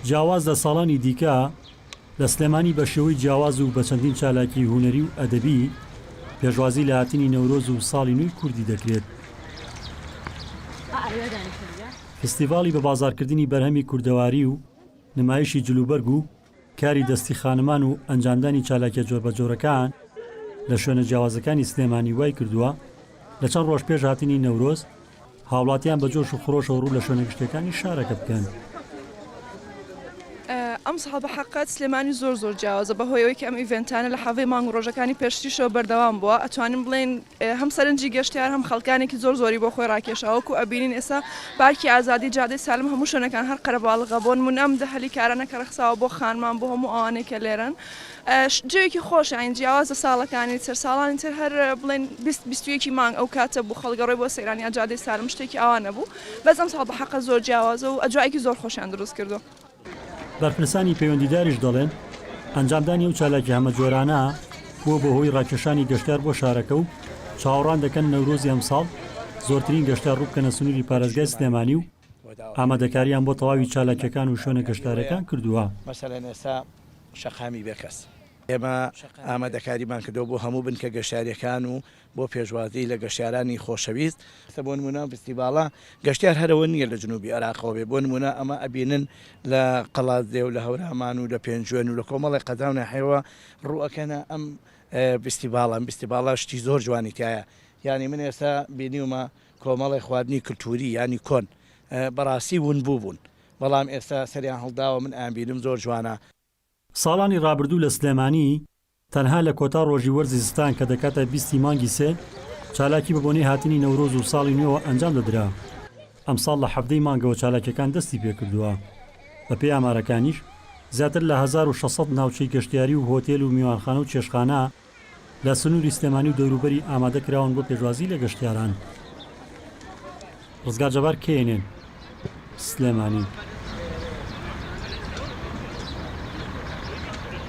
جیاواز لە ساڵانی دیکە، لە سلێمانی بە شێوەی جیاواز و بە چەندین چالاکیی هونەری و ئەدەبی، پێشوازی لە هاتنی نەورۆز و ساڵی نوێی کوردی دەکرێت. فستیڤاڵی بە بازاڕکردنی بەرهەمی کوردەواری و نمایشی جلوبەرگ و کاری دەستی خانمان و ئەنجامدانی چالاکیە جۆربەجۆرەکان لە شوێنە جیاوازەکانی سلێمانی وای کردووە لە چەند ڕۆژ پێش هاتنی نەورۆز هاوڵاتیان بە جۆش و خرۆشەوە ڕوو لە شوێنە گشتیەکانی شارەکە بکەن. ئەمساڵ بەحەقەت سلێمانی زۆر زۆر جیاوازە بەهۆی ئەوەی کە ئەم ئیڤێنتانە لە حەڤی مانگ و ڕۆژەکانی پێشتریشەوە بەردەوام بووە ئەتوانین بڵێین هەم سەرنجی گەشتیار هەم خەڵکانێکی زۆر زۆری بۆ خۆی ڕاکێشا وەکو ئەبینین ئێستا پارکی ئازادی جادەی سالم هەموو شوێنەکان هەر قەرەباڵغە بۆن من ئەم دەهەلی کارانە کە ڕەخساوە بۆ خانمان بۆ هەموو ئەوانەی کە لێرەن جوێکی خۆش ئاین جیاوازە ساڵەکانی تر ساڵانی تر هەر بڵێن بیست بیستویەکی مانگ ئەو کاتە بوو خەڵگەڕۆی بۆ سەیرانیا جادەی سالم شتێکی ئاوانە بوو بەزم ساڵ بە حەقە زۆر جیاوازە و ئەجوایەکی زۆر خۆشیان دروست کردو. بەرپرسانی پەیوەندیداریش دەڵێن، ئەنجامدانی ئەو چالاکیە هەمەجۆرانە بووە بە هۆی راکێشانی گەشتیار بۆ شارەکە و چاوەڕوان دەکەن نەورۆزی ئەمساڵ زۆرترین گەشتیار رووبکەنە سنووری پارێزگای سلێمانی و ئامادەکارییان بۆ تەواوی چالاکیەکان و شوێنە گەشتارەکان کردووە. بۆ پێشوازی لە گەشتیارانی خۆشەویست. بۆ نموونە ڤستیڤاڵە گەشتیار هەر ئەوە نییە لە جنووبی عێراقەوە بێ، بۆ نموونە ئەمە ئەبینن لە قەڵادزێ و لە هەورامان و لە پێنجوێن و لە کۆمەڵێ قەزا و ناحیەوە ڕوو ئەکەنە ئەم ڤستیڤاڵە، ئەم ڤستیڤاڵە شتی زۆر جوانی تیایە، یانی من ئێستا بینیومە کۆمەڵێ خواردنی کلتووری یانی کۆن بەڕاستی ونبوو بوون، بەڵام ئێستا سەریان هەڵداوە من ئەیانبینم زۆر جوانە. ساڵانی ڕابردوو لە سلێمانی تەنها لە کۆتا ڕۆژی وەرزی زستان کە دەکاتە بیست ی مانگی سێ چالاکی بە بۆنەی هاتنی نەورۆز و ساڵی نوێوە ئەنجام دەدرا، ئەمساڵ لە حەڤدە ی مانگەوە چالاکیەکان دەستی پێکردووە، بە پێی ئامارەکانیش زیاتر لە هەزار و شەش سەد ناوچەی گەشتیاری و هۆتێل و میوانخانە و چێشتخانە، لە سنووری سلێمانی و دەوروبەری ئامادە کراون بۆ پێشوازی لە گەشتیاران. ڕزگار جەبار، knn، سلێمانی.